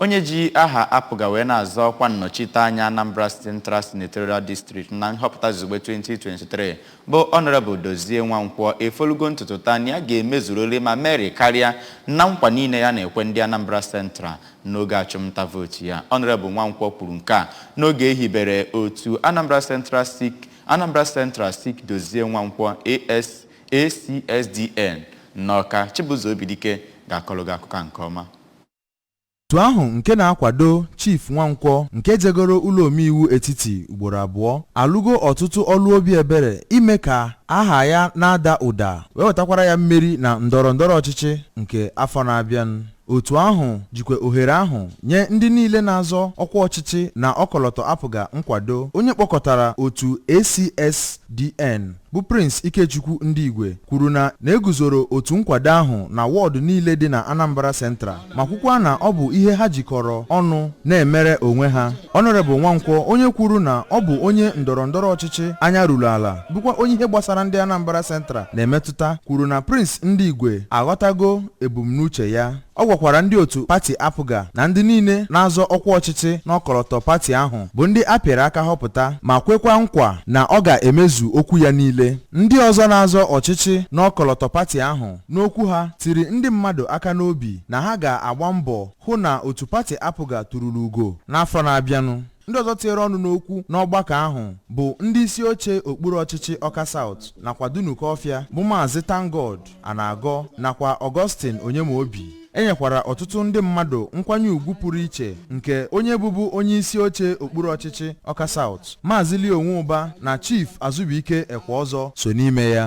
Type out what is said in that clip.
Onye ji aha APGA wee na-azọ ọkwa nnọchiteanya Anambra Central Senatorial District na nhọpụta izugbe 2023 bụ Honourable Dozie Nwankwọ efolugo ntutu taa na ya ga-emezurịrị ma merị karịa na nkwa niile ya na-ekwe ndị Anambra Central n'oge achụmnta vootu ya. Honourable Nwankwọ kwuru nke a n'oge e hibere otu Anambra Central Seek Anambra Central Seek Dozie Nwankwọ ACSDN n'Ọka. Chibụzọ Obidike ga-akọrọ gị akụkọ a nke ọma. Otu ahụ nke na-akwado Chief Nwankwọ nke jegoro ụlọ omeiwu etiti ugboro abụọ alụgo ọtụtụ ọlụ obi ebere ime ka aha ya na-ada ụda wee wetakwara ya mmeri na ndọrọ ndọrọ ọchịchị nke afọ na-abịanụ. Otu ahụ jikwa ohere ahụ nye ndị niile na-azọ ọkwa ọchịchị n'ọkọlọtọ APGA nkwado. Onye kpọkọtara otu ACSDN bụ Prince Ikechukwu Ndigwe kwuru na na e guzoro otu nkwado ahụ na wọọdụ niile dị na Anambra Central ma kwukwa na ọ bụ ihe ha jikọrọ ọnụ na-emere onwe ha. Honorable Nwankwọ onye kwuru na ọ bụ onye ndọrọ ndọrọ ọchịchị anya ruru ala bụkwa onye ihe gbasara ndị Anambra Central na-emetụta kwuru na Prince Ndigwe aghọtago ebumnuche ya Ọ gwakwara ndị otu pati APGA na ndị niile na-azọ ọkwa ọchịchị n'ọkọlọtọ pati ahụ bụ ndị a pịara aka họpụta ma kwekwa nkwa na ọ ga-emezu okwu ya niile. Ndị ọzọ na-azọ ọchịchị n'ọkọlọtọ pati ahụ n'okwu ha tiri ndị mmadụ aka n'obi na ha ga-agba mbọ hụ na otu pati APGA tururu ugo n'afọ na-abịanụ. Ndị ọzọ tinyere ọnụ n'okwu n'ọgbakọ ahụ bụ ndị isi oche okpuru ọchịchị Ọka South nakwa Dunukọfịa bụ Maazị ThankGod Anagọ nakwa Augustine Onyemaobi. E nyekwara ọtụtụ ndị mmadụ nkwanye ugwu pụrụ iche nke onye bụbu onye isi oche okpuru ọchịchị Ọka South, Maazị Leo Nwuba na Chief Azubuike Ekweọzọ so n'ime ya.